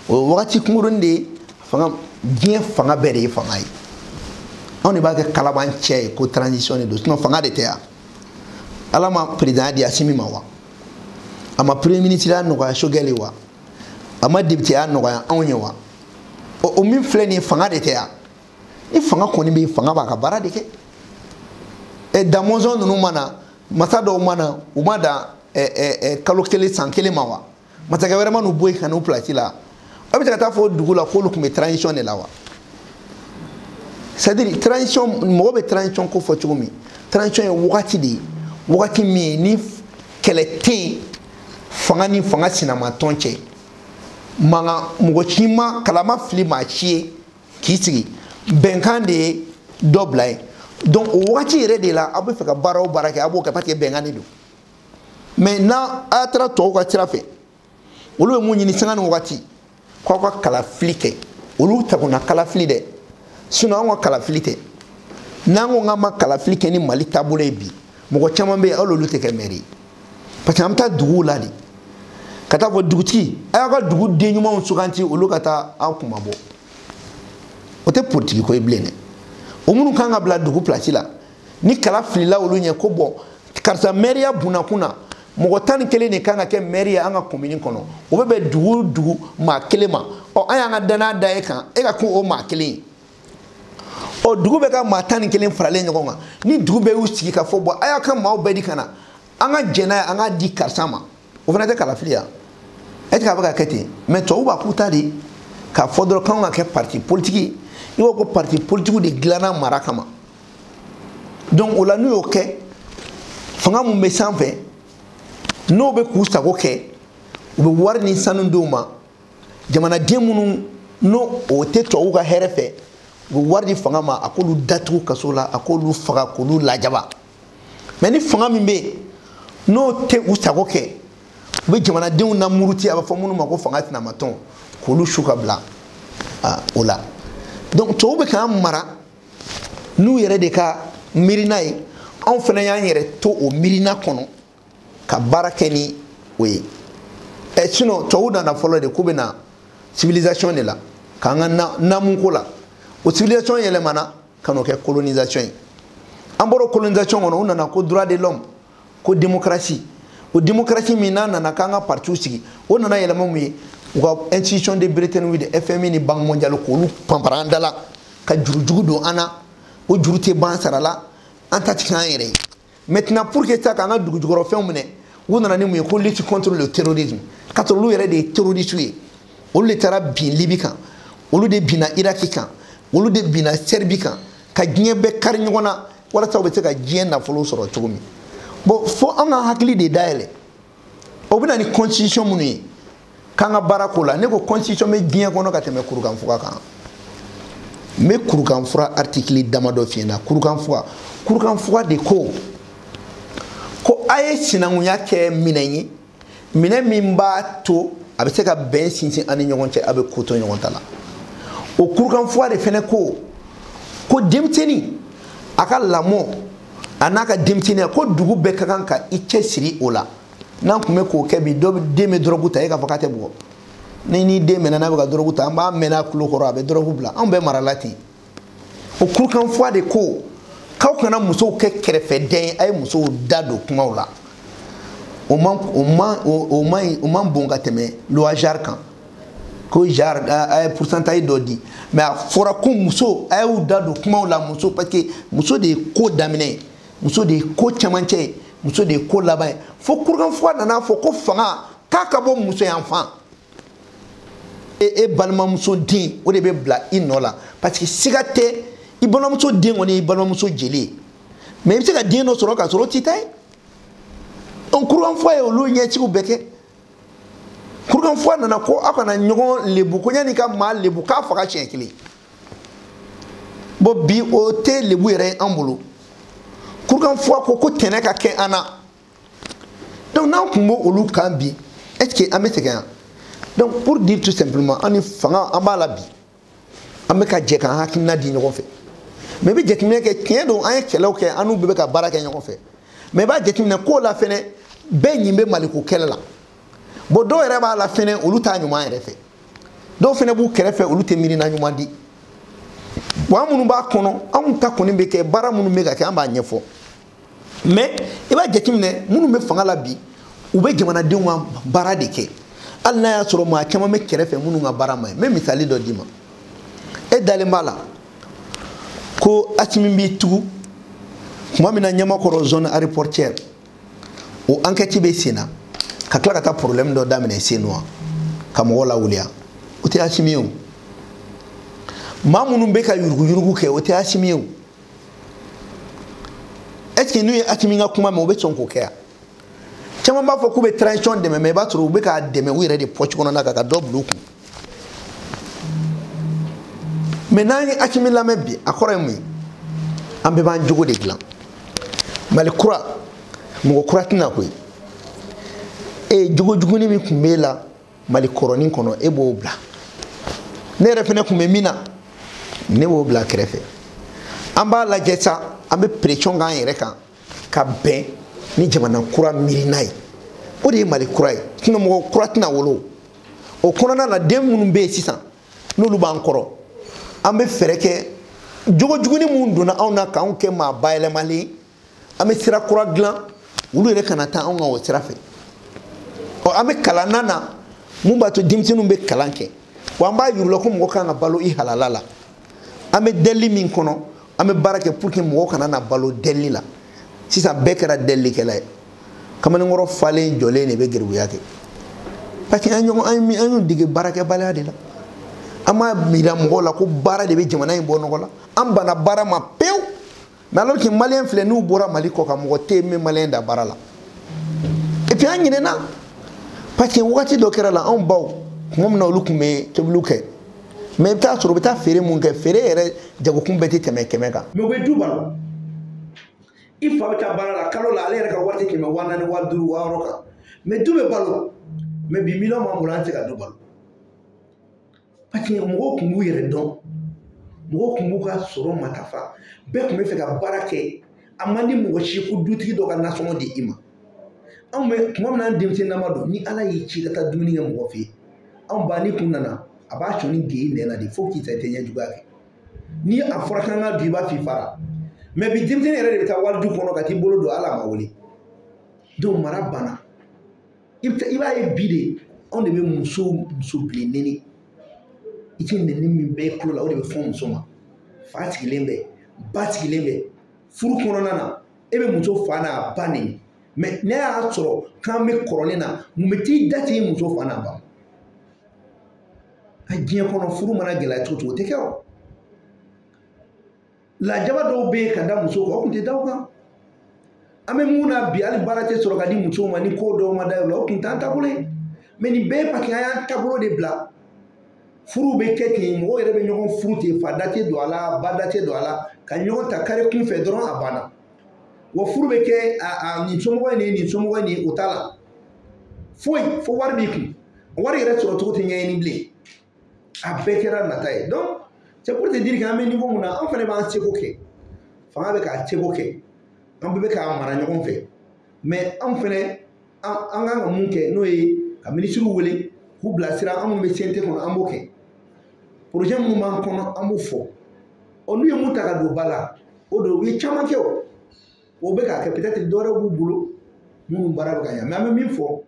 o ye wagati kunkurunin de ye fanga diɲɛ fanga bɛɛ de ye fanga ye anw de b'a kɛ kalabanciya ye ko transition de don sinon fanga de tɛ yan ala ma perezidan di asimi ma wa a ma premier ministre ya nɔgɔya sogɛl ye wa a ma député ya nɔgɔya anw ye wa o min filɛ nin ye fanga de tɛ yan ni fanga kɔni bɛ yen fanga b'a ka baara de kɛ ɛ damɔzɔn ninnu ma na masa dɔw ma na u ma dan ɛ ɛ kalo kelen san kelen ma wa masakɛ wɛrɛ ma n'u bɔ yen ka n'u pilasi la aw bɛ se ka taa fɔ dugu la k'olu tun bɛ transition de la wa c'est à dire transition mɔgɔ bɛ transition ko fɔ cogo min transition ye wagati de ye wagati min ye ni kɛlɛ tɛ yen fanga ni fanga sinamatɔn cɛ mankan mɔgɔ si ma kala fili maa si ye k'i sigi bɛnkan de ye dɔ bila yen donc o wagati yɛrɛ de la aw bɛ fɛ ka baara o baara kɛ a b'o kɛ parce que bɛnkan de don mais n'aw taara tɔw ka sira fɛ olu bɛ mun ɲini sanga ni wagati k'aw ka kalafili kɛ olu tagona kalafili dɛ sinon anw ka kalafili tɛ n'an ko k'an ma kalafili kɛ ni mali taabolo ye bi mɔgɔ caman bɛ yen hali olu tɛ kɛ mɛri ye parce que an bɛ taa duguw la de ka taa fɔ dugutigi a y'aw ka duguden ɲumanw sugandi olu ka taa aw kunmabɔ o tɛ politiki ko ye bilen dɛ o minnu kan ka bila dugu pilasi la ni kala filila olu ɲɛ ko bon karisa mɛriya bunakun na mɔgɔ tan ni kelen de kan ka kɛ mɛri ye an ka komini kɔnɔ o bɛ bɛn dugu dugu maa kelen ma ɔ an y'an ka danaya da e kan e ka kɛ o maa kelen ye ɔ dugu bɛɛ ka maa tan ni kelen faralen ɲɔgɔn kan ni dugu bɛɛ y'u sigi ka fɔ bon a y'a ka maaw bɛɛ di ka na an ka jɛn n'a ye an k'a di karisa ma o fana tɛ kalafili ye est ce que a bɛ ka kɛ ten mais tubabu b'a k'u ta de k'a fɔ dɔrɔn k'anw ka kɛ parti politiki i b'a ko parti politikiw de dilanna mara kama donc o la n'u y'o kɛ fanga min bɛ sanfɛ n'o bɛ k'u sago kɛ u bɛ wari ni sanu d'u ma jamanaden minnu n'olu tɛ tubabuw ka hɛrɛ fɛ u bɛ wari di fanga ma a k'olu datugu kaso la a k'olu faga k'olu lajaba mais ni fanga min bɛ yen n'o tɛ u sago kɛ u bɛ jamanadenw lamuruti a b'a fɔ minnu ma ko fanga sinamatɔn k'olu su ka bila o la donc tubabu bɛ k'an mara n'u yɛrɛ de ka miirina ye anw fana y'an yɛrɛ to o miirina kɔnɔ ka baara kɛ ni o ye ɛ sinon tubabu nana fɔlɔ de k'u bɛ na civilisation de la k'an ka naamuko la o civilisation yɛlɛmana ka n'o kɛ colonisation ye an bɔra colonisation kɔnɔ u nana ko droit de l'homme ko démocratie o démocratie min n'a nana k'an ka partiw sigi o nana yɛlɛma mun ye u ka institution de Bretton Woods FMI ni banque mondiale k'olu panpara an da la ka juru jugu don an na o juru tɛ ban sara la an ta ti k'an yɛrɛ ye maintenant pour que se k'an ka dugujukɔrɔfɛnw minɛ u nana ni mun ye ko lutte contre le terrorisme k'a sɔrɔ olu yɛrɛ de ye terroriste ye olu de taara bin libi kan olu de binna iraki kan olu de binna sɛribi kan ka diɲɛ bɛɛ kari ɲɔgɔn na walasa u bɛ se ka diɲɛ nafolo sɔrɔ cogo min bon fo an ka hakili de dayɛlɛ o bɛ na ni constitution minnu ye k'an ka baara ko la ne ko constitution bɛ diɲɛ kɔnɔ ka tɛmɛ kurukanfuga kan n bɛ kurukanfuga artikili damadɔ f'i ɲɛ na kurukanfuga kurukanfuga de ko ko a ye sinankunya kɛ minɛn ye minɛ min b'a to a bɛ se ka bɛn sinsin an ni ɲɔgɔn cɛ a bɛ ko to ɲɔgɔn ta la o kurukanfuga de fɛnɛ ko ko denmisɛnnin a ka lamɔ an'a ka denmisɛnninya ko dugu bɛɛ ka kan ka i cɛ siri o la n'an tun bɛ k'o kɛ bi dɔ den bɛ dɔrɔgu ta e k'a fɔ k'a tɛ bugɔ ni n'i den minɛna n'a bɛ ka dɔrɔgu ta an b'a mɛn a tulo kɔrɔ a bɛ dɔrɔgu bila anw bɛɛ marala ten o kurukanfuwa de ko k'aw kana musow kɛ kɛrɛfɛ dɛ a ye musow da don kumaw la o man o man o man o man bon ka tɛmɛ loi genre kan ko genre a ye pourcentage dɔ di mais a fɔra ko muso a y'u da don kumaw la muso parce que muso de ye ko daminɛ ye muso de ye ko camancɛ ye muso de ye ko laban ye fo kurukanfuga nan'a fɔ ko fanga k'a ka bɔ muso yanfan e e balimamuso den o de bɛ bila i nɔ la parce que siga tɛ i balimamuso den kɔni y'i balimamuso jeli ye mais i bɛ se ka den dɔ sɔrɔ k'a sɔrɔ o t'i ta ye kurukanfuwa ye olu ɲɛsigi bɛɛ kɛ kurukanfuwa nana ko aw kana ɲɔgɔn lebu ko yanni ka maa lebu k'a faga siɲɛ kelen bon bi o tɛ lebu yɛrɛ ye an bolo kurukanfuwa ko ko tɛnɛ ka kɛ an na donc n'an tun b'o olu kan bi est ce que an bɛ sɛgɛn yan donc pour dire tout simplement an ni fanga an b'a la bi an bɛ ka jɛ k'an hakilina di ɲɔgɔn fɛ mais i bɛ jateminɛ kɛ tiɲɛ don an ye kɛlɛw kɛ an n'u bɛɛ bɛ ka baara kɛ ɲɔgɔn fɛ mais i b'a jateminɛ k'o la fɛnɛ bɛɛ ɲin bɛ maliko kɛlɛ la bon dɔw yɛrɛ b'a la fɛnɛ olu t'a ɲuman yɛrɛ fɛ dɔw fɛnɛ b'u kɛrɛfɛ olu tɛ miirina ɲuman di wa an minnu b'a kɔnɔ anw ta kɔni bɛ kɛ baara minnu bɛ ka kɛ an b'a ɲɛfɔ mais i b'a jateminɛ minnu bɛ fanga la bi u bɛ jamanadenw ka baara de kɛ hali n'a y'a sɔrɔ maa caman bɛ kɛrɛfɛ minnu ka baara ma ye n bɛ misali dɔ d'i ma e dalen b'a la ko asimi b'i tugu tuma min na ɲamakɔrɔ zone aéroportuaire o enquête bɛ senna ka tila ka taa problème dɔ daminɛ senu ka mɔgɔw lawuli yan o tɛ asimi ye o maa minnu bɛ ka yuruguyurugu kɛ o tɛ asimi ye o est ce que n'u ye asimi ka kuma mɛn u bɛ sɔn k'o kɛ yan caman b'a fɔ k'u bɛ transition dɛmɛ mais i b'a sɔrɔ u bɛ k'a dɛmɛ u yɛrɛ de pɔci kɔnɔna kan ka dɔ bila u kun mais n'an ye asimi lamɛn bi a kɔrɔ ye mun ye an bɛɛ b'an jogo de dilan mali kura mɔgɔ kura tɛ na koyi e jogo juguni min tun b'e la mali kɔrɔnin kɔnɔ e b'o bila ne yɛrɛ fɛnɛ tun bɛ min na ne b'o bila kɛrɛfɛ an b'a lajɛ sa an bɛ pression k'an yɛrɛ kan ka bɛn ni jamana kura miirina ye o de ye mali kura ye tɛna mɔgɔ kura tɛna wolo o kɔnɔna la den minnu bɛ yen sisan n'olu b'an kɔrɔ an bɛ fɛɛrɛ kɛ jogo juguni minnu donna anw na k'anw kɛ maa bayɛlɛmalen ye an bɛ sira kura dilan olu yɛrɛ kana taa anw ka o sira fɛ ɔ an bɛ kalan na na mun b'a to denmisɛnninw bɛ kalan kɛ wa an b'a yir'u la ko mɔgɔ kan ka balo i halala la an bɛ dɛli min kɔnɔ an bɛ baara kɛ pour que mɔgɔw kana na balo dɛli la sisan bɛɛ kɛra dɛlikɛla ye kamalenkɔrɔ falen jɔlen de bɛ garibuya kɛ parce que an ɲɔgɔn an ye an y'u dege baarakɛbaliya de la an b'a yira mɔgɔw la ko baara de bɛ jamana in bɔ nɔgɔ la an banna baara ma pewu mais alors que malien filɛ n'u bɔra mali kɔkan mɔgɔ tɛ min malien dan baara la et puis an ɲinɛna parce que wagati dɔ kɛra la anw baw tuma min na olu tun bɛ tobiliw kɛ mais i bɛ taa sɔrɔ u bɛ taa feere mun kɛ feere yɛrɛ jagokun bɛɛ tɛ tɛmɛ kɛmɛ kan. mais u bɛ du balo i fa bɛ taa baara la kalo la ale yɛrɛ ka wari tɛ tɛmɛ waa naani waa duuru waa wɔɔrɔ kan mais du bɛ balo mais bi miliyɔn b'an bolo an tɛ se ka du balo. paseke mɔgɔw tun b'u yɛrɛ dɔn mɔgɔw tun b'u ka sɔrɔ matafa bɛɛ tun b'a fɛ ka baara kɛ a man di mɔgɔ si ko dutigi dɔ ka nasɔngɔ di i ma anw bɛ tuma min na an denmisɛnninama don ni ala y'i ci ka taa dumuni kɛ mɔgɔ fɛ yen anw ba n'i tun nana a b'a sɔn ni gɛɲɛ na de fo k'i ta i tɛ ɲɛjuguya kɛ ni a fɔra k'an ka dun i b'a f'i faara mɛ bi denmisɛnnin yɛrɛ de bɛ taa wali du kɔnɔ ka t'i bolo don a la a ma wele donc mara banna i bɛ i b'a ye bi de anw de bɛ muso muso bilen nɛni i tɛ nɛni min bɛɛ kulo la o de bɛ fɔ muso ma fa sigilen bɛ ba sigilen bɛ furu kɔnɔna na e bɛ muso fa n'a ba nɛni mɛ ne y'a sɔrɔ k'an bɛ kɔrɔlen na mun bɛ t'i da s'i muso fa n'a ba ma diɲɛ kɔnɔ furu mana gɛlɛya cogo cogo o tɛ kɛ o lajaba dɔw bɛ yen ka da muso kan o tun tɛ da o kan an bɛ mun na bi hali baara tɛ sɔrɔ ka di musow ma ni ko dɔw ma da o la o tun t'an taabolo ye mɛ nin bɛɛ ye paki an y'an taabolo de bila furuw bɛ kɛ ten mɔgɔw yɛrɛ bɛ ɲɔgɔn furu ten fa da tɛ don a la ba da tɛ don a la ka ɲɔgɔn ta kare kun fɛ dɔrɔn a banna wa furu bɛ kɛ a nin somɔgɔ in nin nin somɔgɔ in nin o t'a la foyi fo wari b'i kun wari yɛrɛ sɔrɔ cogo tɛ ɲɛɲini bilen a bɛɛ kɛra nata ye donc c'est pour te dire que an bɛ niveau mun na an fana b'an seko kɛ fanga bɛ k'a seko kɛ an bɛɛ bɛ k'a mara ɲɔgɔn fɛ mais an fana an an kan ka mun kɛ n'o ye ka minisiriw wele k'u bilasira an minnu bɛ CNT kɔnɔ an b'o kɛ projet minnu b'an kɔnɔ an b'o fɔ ɔ n'u ye mun ta ka don ba la o don u ye caman kɛ o o bɛ k'a kɛ peut-être dɔwɛrɛ b'u bolo minnu baara bɛ ka ɲɛ mais an bɛ min fɔ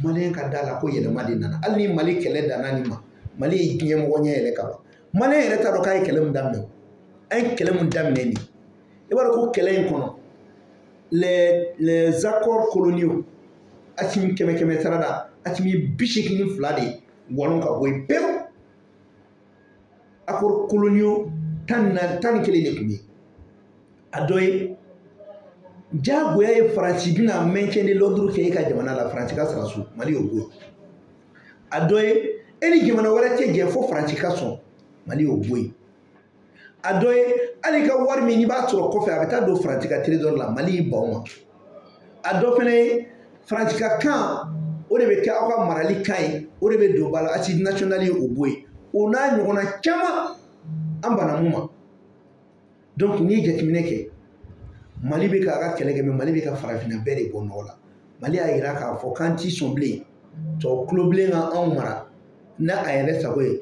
maliyɛn ka da la ko yɛlɛma de nana hali ni mali kɛlɛ danna nin ma mali ye diɲɛ mɔgɔ ɲɛ yɛlɛ ka ban maliyɛn yɛrɛ t'a dɔn k'a ye kɛlɛ min daminɛ o an ye kɛlɛ min daminɛ nin i b'a dɔn ko kɛlɛ in kɔnɔ les les accords coloniaux asimi kɛmɛ kɛmɛ sara la asimi bi seegin ni fila de walon ka bɔ yen pewu akɔrɔ koloniyo tan ni naani tan ni kelen de tun bɛ yen a dɔ ye jagoya ye faransi bɛna maintien de l'ordre kɛ e ka jamana la faransi ka sara so mali y'o bɔ yen a dɔ ye e ni jamana wɛrɛ tɛ jɛ fo faransi ka sɔn mali y'o bɔ yen a dɔ ye hali i ka wari min n'i b'a sɔrɔ kɔfɛ a bɛ taa don faransi ka terezɔri la mali y'i ban o ma a dɔ fana ye faransika kan o de bɛ kɛ aw ka marali kan ye o de bɛ don ba la asizi nasiyɔnali ye o bɔ yen o n'a ɲɔgɔnna caman an banna min ma donc n'i ye jateminɛ kɛ mali bɛ k'a ka kɛlɛ kɛ mɛ mali bɛ ka farafinna bɛɛ de bɔ nɔgɔ la mali y'a yira k'a fɔ k'an tɛ sɔn bilen tubabu tulobilen ka anw mara n'a a yɛrɛ sago ye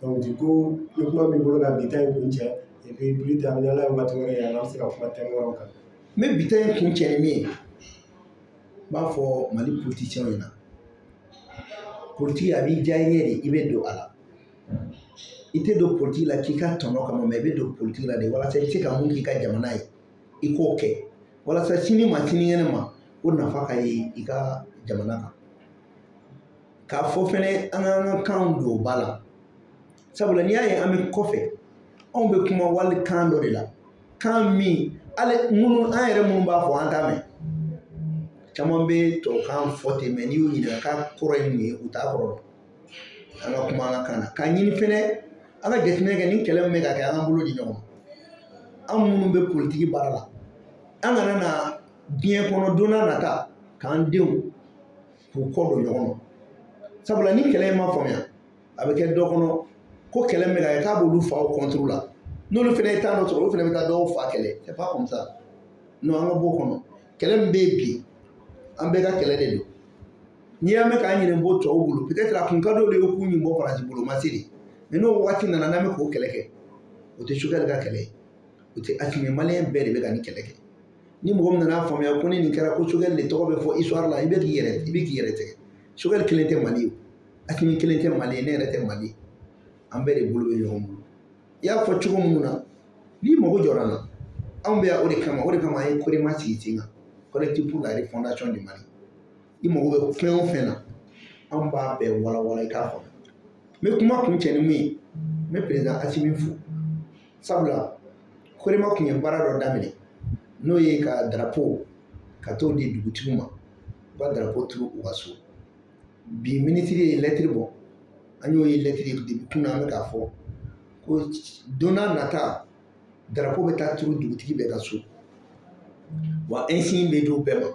bi ko ni kuma b'i bolo ka bi ta in kuncɛ i bɛ bili ta ni ala ye waati wɛrɛ yira an bɛ se ka kuma tɛmɛn yɔrɔ kan n bɛ bi ta in kuncɛ ni min ye n b'a fɔ mali politisiyɛnw ɲɛna politiki a b'i diya i ye de i bɛ don a la i tɛ don politiki la k'i ka tɔnɔ kama mɛ i bɛ don politiki la de walasa i bɛ se ka mun k'i ka jamana ye i k'o kɛ walasa sini ma sinikɛnɛ ma o nafa ka ye i ka jamana kan k'a fɔ fɛnɛ an k'an ka kanw don ba la sabula n'i y'a ye an bɛ kɔfɛ anw bɛ kuma wali kan dɔ de la kan min hali minnu an yɛrɛ minnu b'a fɔ an t'a mɛn caman bɛ tubabukan fɔ ten mɛ n'i y'u ɲininka k'a kɔrɔ ye mun ye u t'a kɔrɔ dɔn an ka kuma an ka kan na k'a ɲini fɛnɛ an ka jateminɛ kɛ nin kɛlɛ min bɛ ka kɛ an ka bolo di ɲɔgɔn ma an minnu bɛ politiki baara la an kana na diɲɛ kɔnɔ don n'a nata k'an denw k'u kɔ don ɲɔgɔn ma sabula ni kɛlɛ in ma faamuya a bɛ kɛ dɔ kɔnɔ ko kɛlɛ min bɛ ka kɛ k'a b'olu faw kɔntoro la n'olu fana ye tan dɔ sɔrɔ olu fana bɛ taa dɔw fa kɛlɛ c'est pas comme ça non an ka b'o kɔnɔ kɛlɛ min bɛ yen bi an bɛɛ ka kɛlɛ de don n'i y'a mɛn k'an ɲinɛ bɔ tɔw bolo peut-être a tun ka d'olu ye u k'u ɲin bɔ faransi bolo ma se de mɛ n'o waati nana n'an bɛ k'o kɛlɛ kɛ o tɛ sogɛli ka kɛlɛ ye o tɛ asimi ye maliyɛn bɛɛ de bɛ ka nin kɛlɛ kɛ ni mɔgɔ min nan'a faamuya ko ni nin kɛra ko sogɛli de tɔgɔ bɛ fɔ isituwari la i bɛ k'i yɛrɛ i bɛ k'i yɛrɛ tigɛ sogɛli kelen tɛ mali ye asimi kelen tɛ mali ye ne yɛrɛ tɛ mali ye an bɛɛ de bolo bɛ ɲɔgɔn bolo i y'a fɔ cogo min na n'i mago jɔra an na anw bɛ yan o de kama o de kama an ye korema sigi sen kan collectif pour la refondation du mali i mago bɛ fɛn o fɛn na an b'a bɛɛ walawala i k'a faamu n bɛ kuma kuncɛ ni min ye n bɛ perezidan asimi fo sabula korema tun ye baara dɔ daminɛ n'o ye ka darapo ka t'o di dugutigiw ma u ka darapo turu u ka so bi minisiri ye lɛtiri bɔ an y'o ye lɛtiri de kun na an bɛ k'a fɔ ko don n'a nata darapo bɛ taa turu dugutigi bɛɛ ka so wa ɛnsiɲi bɛ di u bɛɛ ma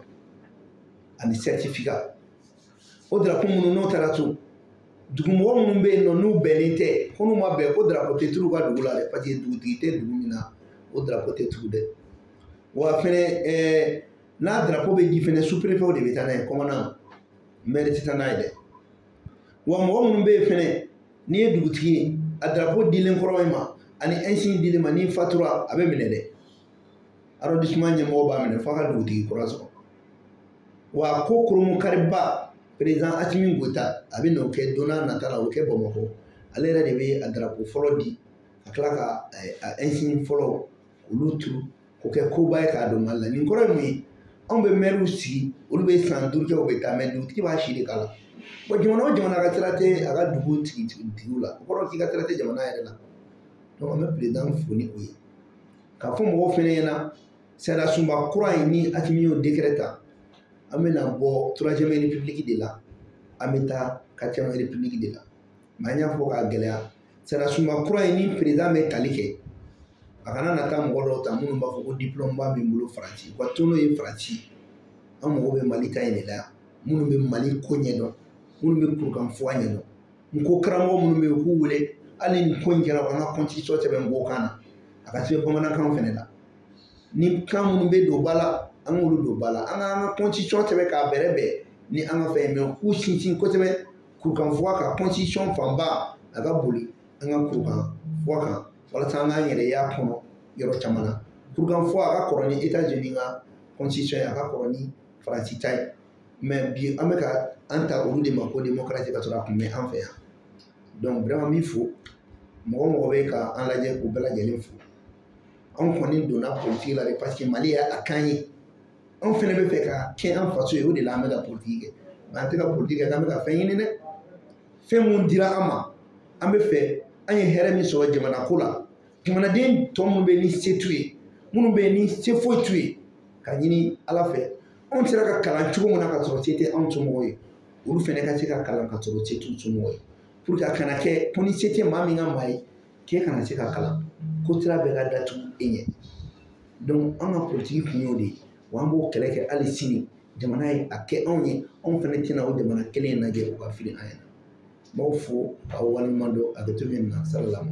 ani sɛritifika o darapo minnu n'o taara to dugumɔgɔ minnu bɛ yen nɔ n'u bɛnnen tɛ ko n'u ma bɛn ko darapo tɛ turu u ka dugu la dɛ paseke dugutigi tɛ dugu min na o darapo tɛ turu dɛ wa fɛnɛ ɛɛ n'a darapo bɛ di fɛnɛ superefew de bɛ taa n'a ye kɔmandan mɛri tɛ taa n'a ye dɛ wa mɔgɔ minnu bɛ yen fɛnɛ n'i ye dugutigi ye a darapo dilen kɔrɔ i ma ani ɛnsin dilen i ma n'i fatura a bɛ minɛ dɛ arrondissement ɲɛmɔgɔ b'a minɛ f'a ka dugutigi kura sɔrɔ wa ko koromu kariba président Asimi Goyita a bɛ n'o kɛ don nataw la o bɛ kɛ Bamakɔ ale yɛrɛ de bɛ a darapo fɔlɔ di ka tila ka a ɛnsin fɔlɔ olu turu k'o kɛ koba ye k'a don Mali la nin kɔrɔ ye mun ye anw bɛ mɛriw sigi olu bɛ san duuru kɛ u bɛ taa mɛ dugutigi b'a si de k'a la bɔn jamana o jamana ka sira tɛ a ka dugutigiw la o kɔrɔ k'i ka sira tɛ jamana yɛrɛ la donc an bɛ président fo ni o ye k'a fɔ mɔgɔw fɛnɛ ɲɛna sariyasunba kura in ni asimi y'o dekɛrɛ ta an bɛna bɔ turuwaziyɛmu repibuliki de la an bɛ taa katiriyɛmu repibuliki de la mɛ an y'a fɔ k'a gɛlɛya sariyasunba kura in ni perezan bɛ tali kɛ a kana na taa mɔgɔ dɔw ta minnu b'a fɔ ko diplɔmuba bɛ n bolo faransi u ka to n'o ye faransi an mago bɛ mali ta in de la yan minnu bɛ mali ko ɲɛdɔn minnu bɛ kurukanfuga ɲɛdɔn nko karamɔgɔ minnu bɛ yen u k'u wele hali ni ko in kɛra u k'an ka kɔntisiyɔn sɛbɛn nko kan na a ka se bamanankan fana la ni kan minnu bɛ don ba la an k'olu don ba la an k'an ka kɔntisiyɔn sɛbɛn k'a bɛrɛbɛn ni an ka fɛn ye mɛ k'u sinsin kosɛbɛ kurukanfuga kan kɔntisiyɔn fanba a ka boli an ka kurukanfuga kan walasa an k'an yɛrɛ y'a kɔnɔ yɔrɔ caman na kurukanfuga ka kɔrɔ ni etazini ka kɔntisiyɔn ye a ka kɔrɔ ni faransi ta ye mɛ bi an bɛ ka an ta olu de ma ko demokarasi ka sɔrɔ a tun bɛ an fɛ yan dɔnku wɛrɛman min fo mɔgɔ o mɔgɔ bɛ ka an lajɛ k'u bɛɛ lajɛlen fo anw kɔni donna politiki la de paseke mali y'a kɛ an ye anw fɛnɛ b'a fɛ k'a kɛ an faso ye o de la an bɛ ka politiki kɛ mɛ an tɛ ka politiki kɛ k'an bɛ ka fɛn ɲini dɛ fɛn min dira an ma an b'a fɛ an ye hɛrɛ min sɔrɔ jamana ko la jamanaden tɔ minnu bɛ ni se t'u ye minnu bɛ ni se foyi t'u ye ka ɲini ala fɛ anw sera ka kalan cogo min na ka sɔrɔ se tɛ anw somɔgɔw ye olu fɛnɛ ka se ka kalan ka sɔrɔ se t'u somɔgɔw ye puruke a kana kɛ ko ni se tɛ maa min ka maa ye k'e kana se ka kalan ko sira bɛɛ ka datugu e ɲɛ donc an ka politiki kun y'o de ye wa an b'o kɛlɛ kɛ hali sini jamana ye a kɛ anw ye anw fɛnɛ tɛna o jamana kelen lajɛ u ka fili an ɲɛna n b'aw fo k'aw waleɲuman dɔn a bɛ to min na salamu